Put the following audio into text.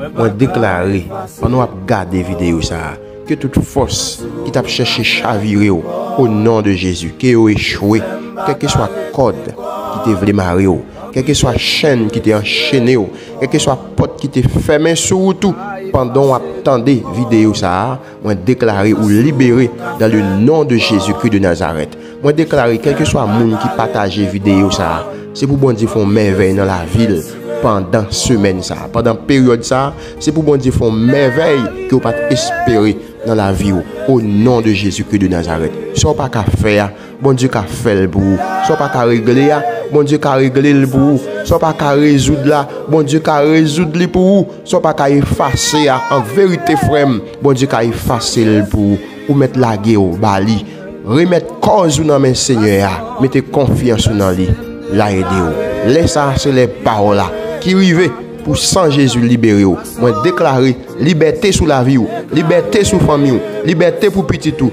Mwen deklare, pandan w ap gade videyo sa a, ke tout fòs ki t ap chèche chavire w, o non de Jezi, ke yo echwe, kèlkeswa kòd ki te vle mare w, kèlkeswa chenn ki te anchene w, kèlkeswa pòt ki te fèmen sou ou tou pandan w ap tande videyo sa a, Mwen deklare ou libere dan le non de Jezi Kri de Nazarèt. Mwen deklare kèlkeswa moun ki pataje videyo sa a, se pou Bondye fè yon mèvèy nan lavi l pandan semèn sa a, pandan peryòd sa a, se pou Bondye fè yon mèvèy ke ou pa t espere nan lavi ou, o non de Jezi Kri de Nazarèt. Sa ou pa ka fè a, Bondye ka fèl pou ou. Sa w pa ka regle a, Bondye ka regle l pou ou. Sa w pa ka rezoud la, Bondye ka rezoud li pou ou. Sa w pa ka efase a, an verite frè m, Bondye ka efase l pou ou. Ou mèt lage w ba li. Remèt kòz ou nan men Senyè a. Mete konfyans ou nan li. L a ede w. Lè sa a se lè pa w la. Ki rive pou san Jezi libere w. Mwen deklare libète sou lavi w. Libète sou fanmi w. Libète pou pitit ou.